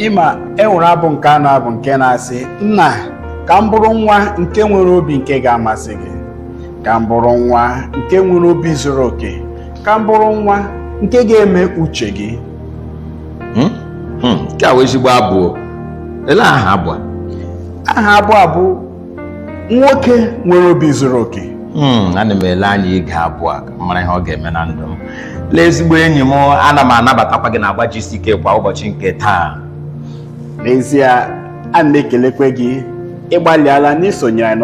ịma enwere abụ nke a na-abụ nke na-asị nna ka m bụrụ nwa nke nwere obi nke ga-amasị gị ka m bụrụ nwa nke nwere obi zuru oke ka m bụrụ nwa nke ga-eme uche gị Hmm? Hmm, nke a wụ ezigbo abụ o. ele aha abụ a aha abụ a bụ nwoke nwere obi zuru oke Hmm, ana m ele anya ige abụ a ka m mara ihe ọ ga-eme na ndụ m lee ezigbo enyi m ana m anabatakwa gị na agba GCK kwa ụbọchị nke taa n'ezie a na-ekelekwe gị ịgbalịala n'isonyere anyị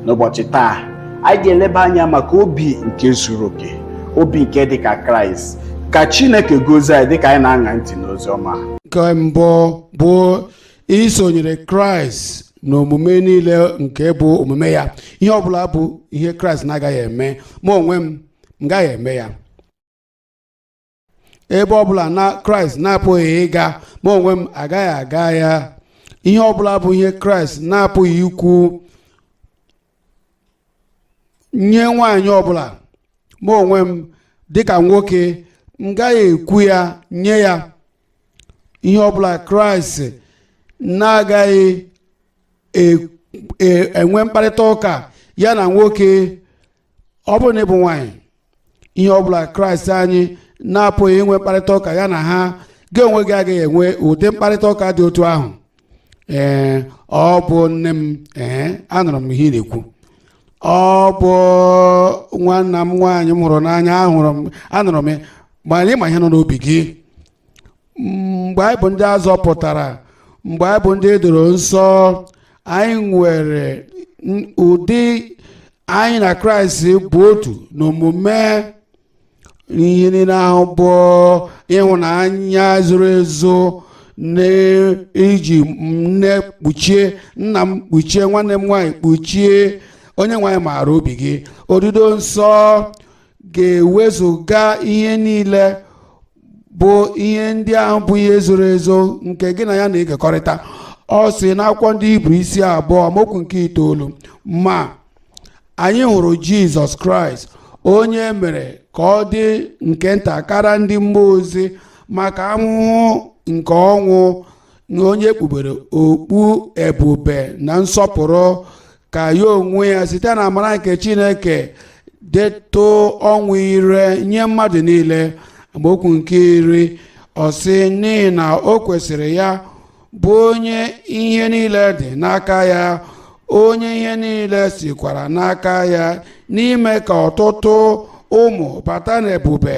n'ụbọchị taa anyị ga-eleba anya maka obi nke zuru oke obi nke dị ka kraịst ka chineke gozie anyị dịka anyị na-aṅa ntị n'ozi ọma nke mbụ bụ isonyere kraịst na omume niile nke bụ omume ya ihe ọbụla bụ ihe kraịst na-agaghị eme ma onwe m m gaghị eme ya ebe ọbụla na kraịst na-apụghị ịga ma onwe m agaghị aga ya ihe ọbụla bụ ihe kraịst na-apụghị ikwu nye nwaanyị ọbụla ma onwe m dịka nwoke m gaghị ekwu ya nye ya ihe ọbụla kraịst na-agaghị e- e- enwe mkparịta ụka ya na nwoke ọ bụrụ na ịbụ nwaanyị ihe ọ bụla kraịst anyị na-apụghị inwe mkparịta ụka ya na ha gị onwe gị agaghị enwe ụdị mkparịta ụka dị otu ahụ ee ọ bụ nne m ee anụrụ m ihe ị na-ekwu ọ bụ nwanna m nwaanyị m hụrụ n'anya ahụrụ m anụrụ m ya mana ịma ihe nọ n'obi gị mgbe anyị bụ ndị a zọpụtara mgbe anyị bụ ndị e doro nsọ anyị nwere n- ụdị anyị na kraịst bụ otu n'omume ihe niile ahụ bụ ịhụnanya zoro ezo n'iji nne kpuchie nna m kpuchie nwanne m nwaanyị kpuchie Onyenweanyị maara obi gị odido nsọ ga-ewezụga ihe niile bụ ihe ndị ahụ bụ ihe zoro ezo nke gị na ya na-ekekọrịta ọ sị n'akwụkwọ ndị Hibru isi abụọ amaokwu nke itoolu ma anyị hụrụ Jizọs Kraịst onye e mere ka ọ dị nke nta kara ndị mmụọ ozi maka ahụhụ nke ọnwụ na onye kpubere okpu ebube na nsọpụrụ ka ya onwe ya site na amara nke chineke detụ ọnwụ ire nye mmadụ niile amaokwu nke iri ọ sị n'ihi na o kwesịrị ya bụ onye ihe niile dị n'aka ya onye ihe niile sikwara n'aka ya n'ime ka ọtụtụ ụmụ bata n'ebube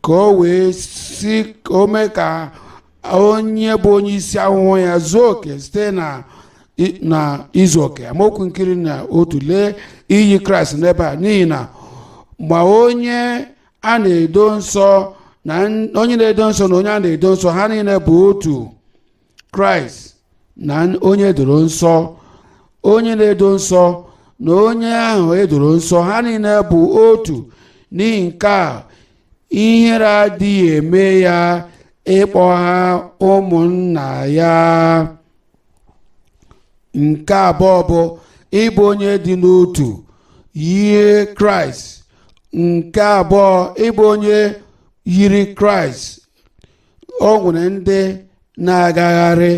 ka o wee si o mee ka onye bụ onye isi ahụhụ ya zuo oke site na i- na izu oke amaokwu nke iri na otu lee iyi kraịst n'ebe a n'ihi na ma onye a na-edo nsọ na n- onye na-edo nsọ na onye a na-edo nsọ ha niile bụ otu kraịst na onye edoro nsọ onye na-edo nsọ na onye ahụ edoro nsọ ha niile bụ otu n'ihi nke a ihere adịghị eme ya ịkpọ ha ụmụnna ya nke abụọ bụ ịbụ onye dị n'otu yie kraịst nke abụọ ịbụ onye yiri kraịst o nwere ndị na-agagharị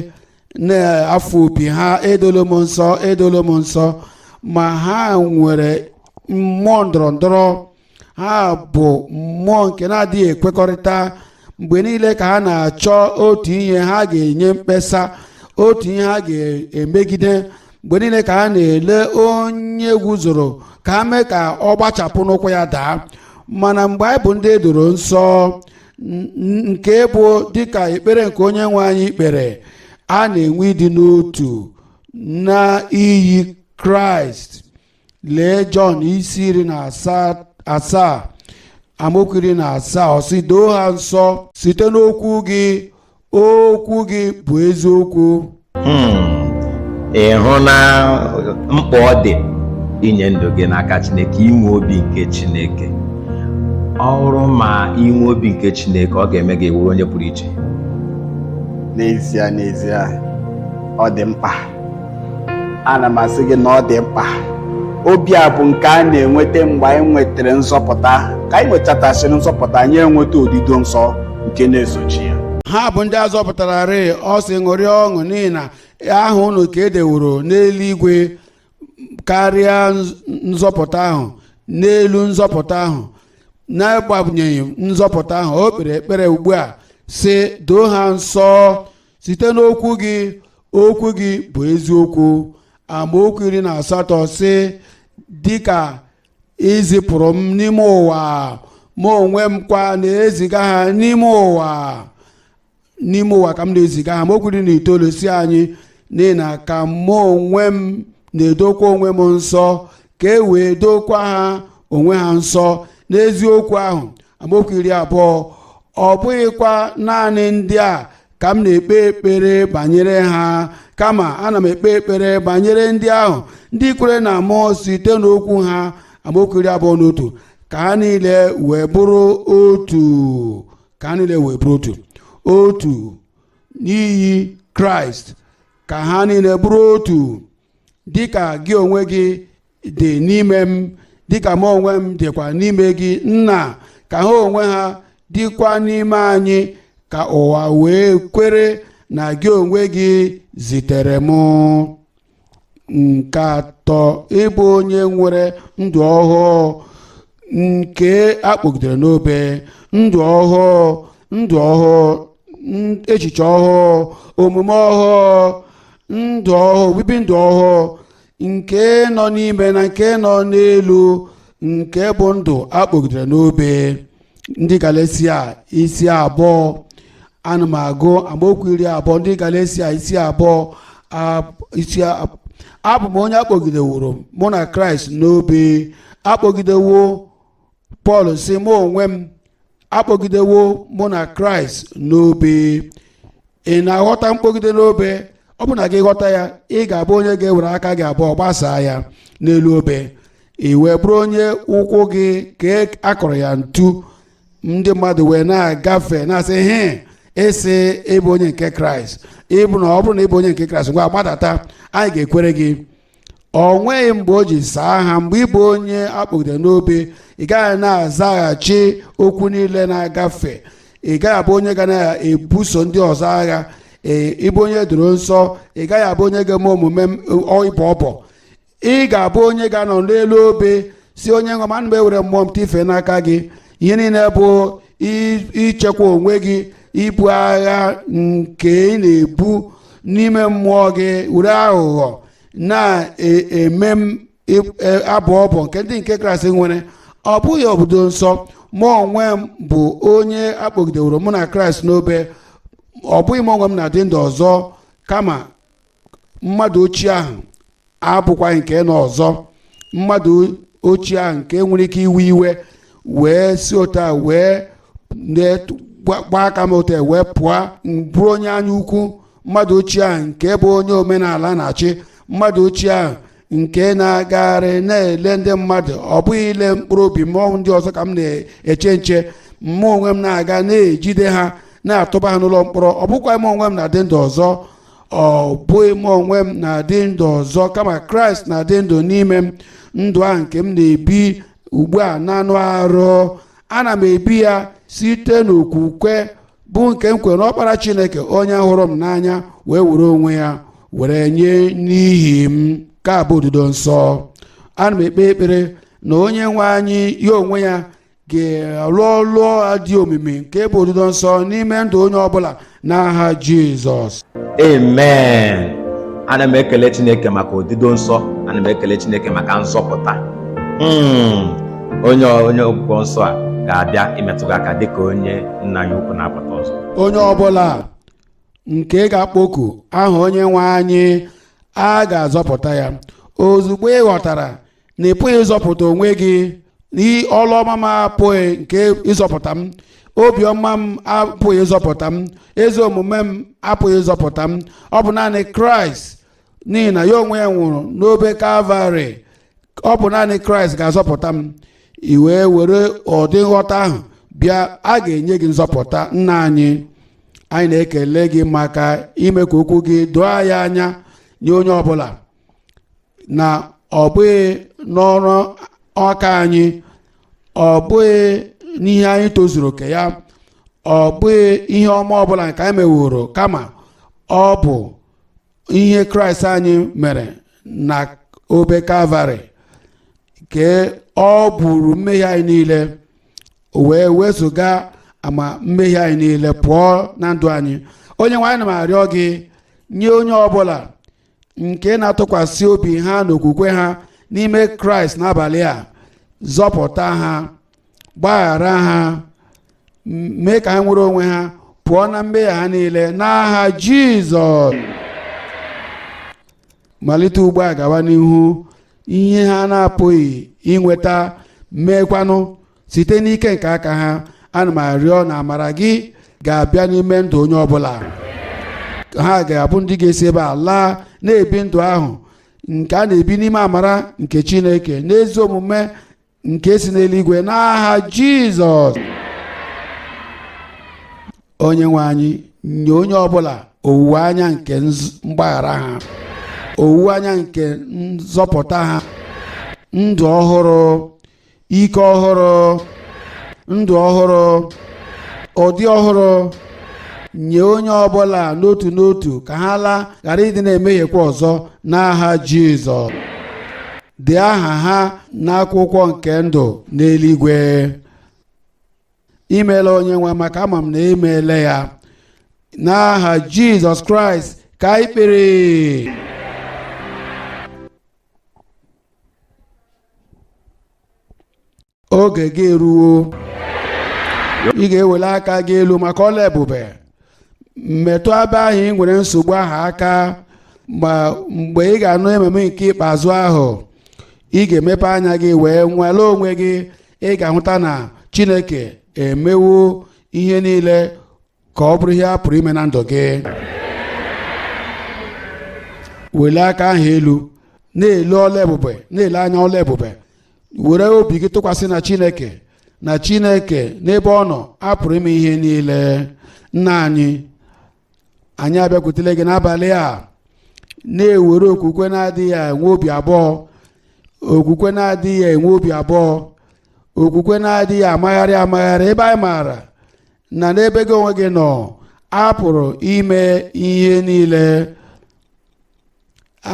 na-afụ opi ha edolo m nsọ edolo m nsọ ma ha nwere mmụọ ndọrọ ndọrọ ha bụ mmụọ nke na-adịghị ekwekọrịta mgbe niile ka ha na-achọ otu ihe ha ga-enye mkpesa otu ihe ha ga-emegide mgbe niile ka ha na-ele onye guzoro ka ha mee ka ọ gbachapụ n'ụkwụ ya daa mana mgbe anyị bụ ndị edoro nsọ nke bụ dịka ekpere nke onye nwe anyị kpere a na-enwe ịdị n'otu na iyi kraịst lee jọn isi iri na asaa amaokwu iri na asaa ọ sị doo ha nsọ site n'okwu gị okwu gị bụ eziokwu hmm. ị hụna mkpa ọ dị inye ndụ gị n'aka Chineke inwe obi nke Chineke ọ bụrụ ma i nwee obi nke Chineke ọ ga-eme gị wụrụ onye pụrụ iche n'ezie n'ezie ọ dị mkpa ana m asị gị na ọ dị mkpa obi a bụ nke a na-enweta mgbe anyị nwetara nzọpụta ka anyị nwetachasịrị nzọpụta anyị enweta odido nsọ nke na-esochi ya ha bụ ndị a zọpụtara rịị ọ sị ṅụrịa ọṅụ n'ihi na aha unu ka e deworo n'eluigwe karịa nz- nzọpụta ahụ n'elu nzọpụta ahụ n'agbanyeghị nzọpụta ahụ o kpere ekpere ugbu a sị doo ha nsọ site n'okwu gị okwu gị bụ eziokwu amaokwu iri na asatọ sị dịka i zipụrụ m n'ime ụwa mụ onwe m kwa na-eziga ha n'ime ụwa n'ime ụwa ka m na-eziga ha amaokwu iri na itoolu sị anyị n'ihi na ka mụ onwe m na-edokwa onwe m nsọ ka e wee dookwa ha onwe ha nsọ n'eziokwu ahụ amaokwu iri abụọ ọ bụghịkwa naanị ndị a ka m na-ekpe ekpere banyere ha kama ana m ekpe ekpere banyere ndị ahụ ndị kwere na mụ site n'okwu ha amaokwu iri abụọ na otu ka ha niile wee bụrụ otu ka ha niile wee bụrụ otu otu n'iyi kraịst ka ha niile bụrụ otu dịka gị onwe gị dị n'ime m dịka mụ onwe m dịkwa n'ime gị nna ka ha onwe ha dịkwa n'ime anyị ka ụwa wee kwere na gị onwe gị zitere m nke atọ ịbụ onye nwere ndụ ọhụụ nke akpọgidere n'obe ndụ ọhụụ ndụ ọhụụ echiche ọhụụ omume ọhụụ ndụ ọhụụ obibi ndụ ọhụụ nke nọ n'ime na nke nọ n'elu nke bụ ndụ akpọgidere n'obe ndị galesia isi abụọ ana m agụ amaokwu iri abụọ ndị galesia isi abụọ a- isi a- abụ m onye akpọgideworo mụ na kraịst n'obe akpọgidewo pọl sị mụ onwe m akpọgidewo mụ na kraịst n'obe ị na-aghọta mkpọgide n'obe ọ bụrụ na gị aghọta ya ị ga-abụ onye ga-ewere aka gị abụọ gbasaa ya n'elu obe i wee bụrụ onye ụkwụ gị ka akọrọ ya ntu ndị mmadụ wee na-agafe na-asị he ị sị ị bụ onye nke kraịst ịbụ na ọ bụrụ na ị bụ onye nke kraịst ngwa gbadata anyị ga-ekwere gị o nweghị mgbe o ji saa ha mgbe ị bụ onye akpọgidere n'obe ị gaghị na-azaghachi okwu niile na-agafe ị gaghị abụ onye ga na-ebuso ndị ọzọ agha ee ị bụ onye e doro nsọ ị gaghị abụ onye ga-eme omume ịbọ ọbọ ị ga-abụ onye ga-anọ n'elu obe sị onye nwe m ana m ewere mmụọ m tife n'aka gị ihe niile bụ i- ichekwa onwe gị ibu agha nke ị na-ebu n'ime mmụọ gị were aghụghọ na-eme m ị- e- abụ ọbọ nke ndị nke kraịst nwere ọ bụghị obodo nsọ mụ onwe m bụ onye akpọgideworo mụ na kraịst n'obe ọ bụghị mụ onwe m na-adị ndụ ọzọ kama mmadụ ochie ahụ abụkwaghị nke nọ ọzọ mmadụ ochie ahụ nke nwere ike iwe iwe wee si otu a wee gbaa aka m otu a wee pụọ m bụrụ onye anya ukwu mmadụ ochie ahụ nke bụ onye omenala na-achị mmadụ ochie ahụ nke na-agagharị na-ele ndị mmadụ ọ bụghị ile mkpụrụ obi m ọ bụ ndị ọzọ ka m na-eche nche mụ onwe m na-aga na-ejide ha na-atụba ha n'ụlọ mkpọrọ ọ bụkwaghị m onwe m na-adị ndụ ọzọ ọ bụghị m onwe m na-adị ndụ ọzọ kama kraịst na-adị ndụ n'ime m ndụ a nke m na-ebi ugbu a n'anụ arụ ana m ebi ya site n'okwukwe bụ nke m kwere n'ọkpara chineke onye hụrụ m n'anya wee were onwe ya were nye n'ihi m nke a bụ odido nsọ ana m ekpe ekpere na onye nwe anyị ya onwe ya ga-alụ ọlụ a dị omimi nke bụ odido nsọ n'ime ndụ onye ọbụla n'aha jizọs amen ana m ekele chineke maka odido nsọ ana m ekele chineke maka nzọpụta Mm. onye onye ọgwụgwọ nsọ a ga-abịa imetụ gị aka dịka onye nna ya ukwu na-apụta ọzọ onye ọbụla nke ga-akpọku aha onye nwe anyị a ga-azọpụta ya ozugbo ị ghọtara na ị pụghị ịzọpụta onwe gị ọlụ ọma m apụghị nke ịzọpụta m obiọma m apụghị ịzọpụta m ezi omume m apụghị ịzọpụta m ọ bụ naanị kraịst n'ihi na ya onwe ya nwụrụ n'obe kalvarị ọ bụ naanị kraịst ga-azọpụta m i wee were ụdị nghọta ahụ bịa a ga-enye gị nzọpụta nna anyị anyị na-ekele gị maka ime ka okwu gị doo anyị anya nye onye ọbụla na ọ bụghị n'ọrụ aka anyị ọ bụghị n'ihe anyị tozuru oke ya ọ bụghị ihe ọma ọbụla nke anyị meworo kama ọ bụ ihe kraịst anyị mere na obe kalvarị nke o buru mmehie anyị niile wee wezuga ama mmehie anyị niile pụọ na ndụ anyị onye nwe anyị ana m arịọ gị nye onye ọbụla nke na-atụkwasị obi ha na okwukwe ha n'ime kraịst n'abalị a zọpụta ha gbaghara ha mee ka ha nwere onwe ha pụọ na mmehie ha niile n'aha jizọs malite ugbu a gawa n'ihu ihe ha na-apụghị inweta meekwanụ site n'ike nke aka ha ana m arịọ na amara gị ga-abịa n'ime ndụ onye ọbụla ha ga-abụ ndị ga-esi ebe a laa na-ebi ndụ ahụ nke a na-ebi n'ime amara nke chineke n'ezi omume nke si n'eluigwe n'aha jizọs onye nwe anyị nye onye ọbụla owuwe anya nke mgbaghara ha owuwe anya nke nzọpụta ha ndụ ọhụrụ ike ọhụrụ ndụ ọhụrụ ụdị ọhụrụ nye onye ọbụla n'otu n'otu ka ha laa ghara ịdị na-emehiekwa ọzọ n'aha Jizọs dee aha ha n'akwụkwọ nke ndụ n'eluigwe imeela onye nwe maka ama m na i meela ya n'aha Jizọs Kraịst ka anyị kpere oge gị eruwo ị ga-ewele aka gị elu maka ọlụ ebube metụ ebe ahụ ị nwere nsogbu ahụ aka ma mgbe ị ga-anụ amen nke ikpeazụ ahụ ị ga-emepe anya gị wee nwale onwe gị ị ga-ahụta na chineke emewo ihe niile ka ọ bụrụ ihe a pụrụ ime na ndụ gị wele aka ahụ elu na-ele ọlụ ebube na-ele anya ọlụ ebube were obi gị tụkwasị na chineke na chineke n'ebe ọ nọ a pụrụ ime ihe niile nna anyị anyị abịakwutele gị n'abalị a na-ewere okwukwe na-adịghị enwe obi abụọ okwukwe na-adịghị enwe obi abụọ okwukwe na-adịghị amagharị amagharị ebe anyị maara na n'ebe gị onwe gị nọ a pụrụ ime ihe niile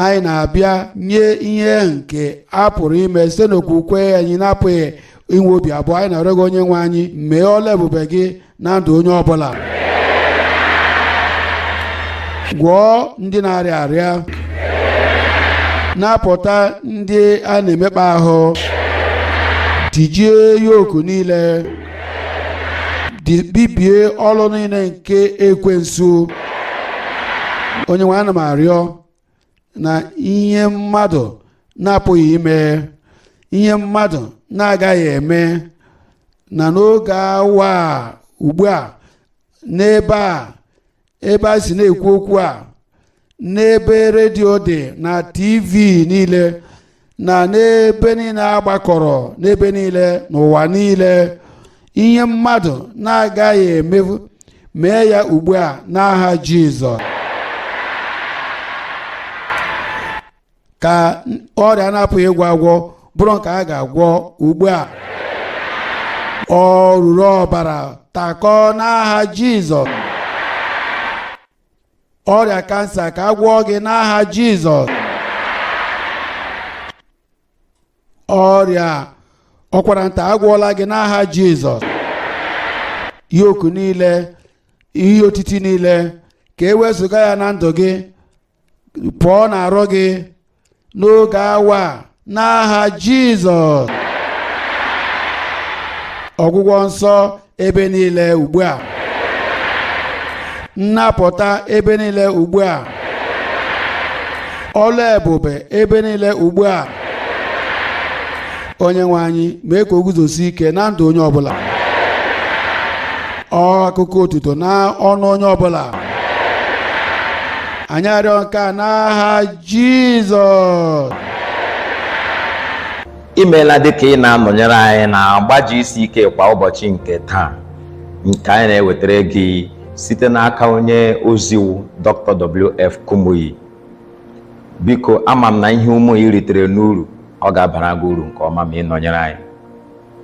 anyị na-abịa nye ihe nke a pụrụ ime site n'okwukwe anyị na-apụghị inwe obi abụọ anyị na-arịọ gị onye nwe anyị mee ọlụ ebube gị na ndụ onye ọ bụla gwọọ ndị na-arịa arịa napụta ndị a na-emekpa ahụ tijie yoku niile bibie ọlụ niile nke ekwensu onye nwe ana m arịọ na ihe mmadụ na-apụghị ime ihe mmadụ na-agaghị eme na n'oge awa a ugbu a n'ebe a ebe a si na-ekwu okwu a n'ebe redio dị na tv niile na n'ebe niile a gbakọrọ n'ebe niile n'ụwa niile ihe mmadụ na-agaghị eme mee ya ugbu a n'aha Jizọs ka ọrịa na-apụghị ịgwọ agwọ bụrụ nke a ga-agwọ ugbu a oruru ọbara takọ n'aha jizọs ọrịa kansa ka a gwọọ gị n'aha jizọs ọrịa ụkwara nta a gwọọla gị n'aha jizọs yoku niile ihe otiti niile ka e wezụga ya na ndụ gị pụọ na arụ gị n'oge awa n'aha Jizọs ọgwụgwọ nsọ ebe niile ugbu a nnapụta ebe niile ugbu a ọlụ ebube ebe niile ugbu a onye nwe anyị mee ka o guzosie ike na ndụ onye ọbụla ọ akụkọ otuto na ọnụ onye ọbụla anyị arịọ nke a n'aha jizọs imeela dịka ị na-anọnyere anyị na agba gck kwa ụbọchị nke taa nke anyị na-ewetara gị site n'aka onye ozi wụ dr wf kumuyi biko ama m na ihe ọma ị ritere n'uru ọ ga-abara gị uru nke ọma ma ị nọnyere anyị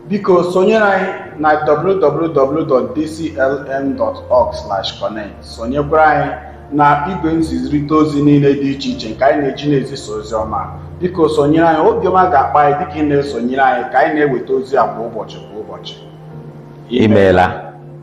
biko sonyere anyị na www.dclm.org/connect sonyekwara anyị na igwe nzizirịta ozi niile dị iche iche nke anyị na-eji na-ezisa ozi ọma biko sonyere anyị obi ọma ga-akpa anyị dịka ị na-esonyere anyị ka anyị na-eweta ozi a kwa ụbọchị kwa ụbọchị imeela